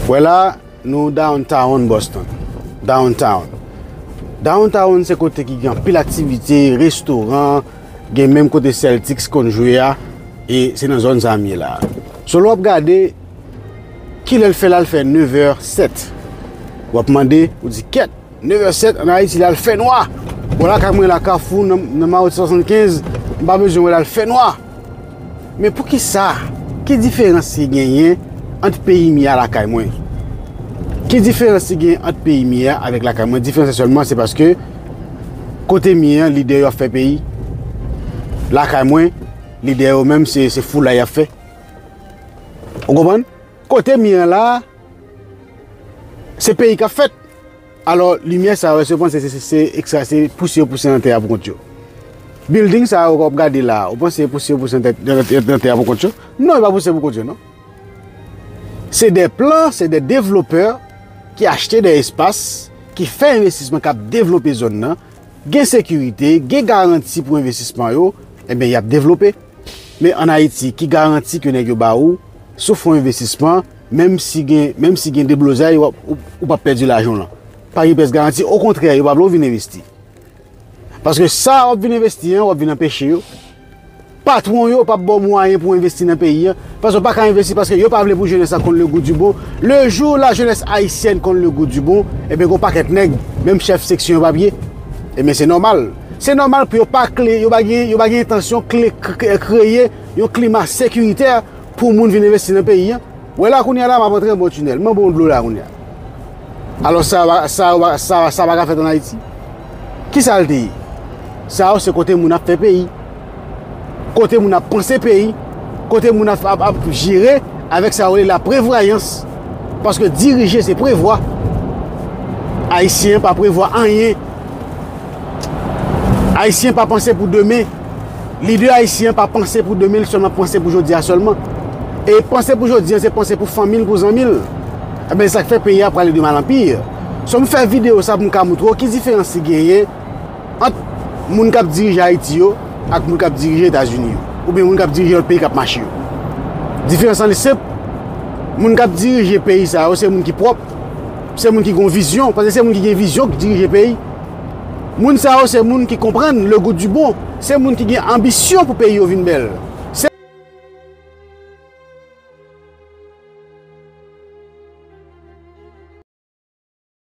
Wè la, nou downtown Boston. Downtown. Downtown se kote ki gen anpil aktivite, restoran, gen menm kote Celtics konn jwe a, e se nan zòn sa m ye la. So lè w ap gade, ki lè l fè la, l fè 9 è 7. W ap mande, ou di kèt! 9h07 an Ayiti la l fè nwa. Bon lakay mwen la kafou nan mawout 75 m pa bezwen wè la l fè nwa. Men poukisa ki diferans ki genyen ant peyi m ya lakay mwen? Ki diferans ki genyen ant peyi m ya avèk lakay mwen? Diferans la sèlman se paske kote m ye an lidè yo ap fè peyi. Lakay mwen lidè yo menm se foulay y ap fè. Ou konprann? Kote m ye an la se peyi k ap fèt. Alò, limyè sa yo, èske yo panse se ekstray, se pouse yo pouse nan tè a pou kont yo? Bilding sa yo ke w ap gade la a, ou panse se pouse yo pouse nan tè a pou kont yo? Non, yo pa pouse pou kont yo non. Se de plan, se de devlopè ki achte de espas, ki fè envestisman, k ap devlope zòn nan. Gen sekirite, gen garanti pou envestisman yo, enben y ap devlope. Men an Ayiti, ki garanti ke nèg yo ba ou sou fon envestisman? Menm si gen menm si gen deblozay w ap ou p ap pèdi lajan w lan. Pa gen pyès garanti. Okontrè, yo pa vle w vin envesti. Paske sa w ap vin envesti an, w ap vin anpeche yo. Patwon yo p ap ba w mwayen pou w envesti nan peyi an. Paske w pa ka envesti paske yo pa vle pou jenès la konn legoudibon. Lejou lajenès ayisyèn konn legoudibon, ebyen gen yon pakèt nèg, menm chèf seksyon yo p ap ye. Ebyen se nòmal. Se nòmal pou yo pa kle, yo pa gen yo pa gen entansyon kle kreye yon klima sekiritè. Pou moun vin envesti nan peyi an. Wè la kounye a la m ap antre anba yon tinèl. M'en bon dlo la kounye a. Alò sa yo sa yo sa yo sa pa ka fèt ann Ayiti? Ki sa l te ye? Sa yo se kote moun ap fè peyi. Kote moun ap panse peyi. Kote moun ap ap ap jere avèk sa yo rele laprevwayans. Paske dirije se prevwa. Ayisyen pa prevwa anyen. Ayisyen pa panse pou demen. Lidè ayisyen an pa panse pou demen, li sèlman panse pou jodi a sèlman. E panse pou jodi an, se panse pou fanmi l, pou zanmi l. Enben, se sa k fè peyi a prale de mal an pi. So m fè videyo sa pou m ka montre w ki diferans ki genyen ant moun k ap dirije Ayiti yo ak moun k ap dirije Etazini yo oubyen moun k ap dirije lòt peyi k ap mache yo. Diferans lan li senp, moun k ap dirije peyi sa yo se moun ki pwòp, se moun ki gen yon vizyon, paske se moun ki gen vizyon ki dirije peyi. Moun sa yo se moun ki konprann le goût du bon, se moun ki gen anbisyon pou peyi yo vin bèl, se.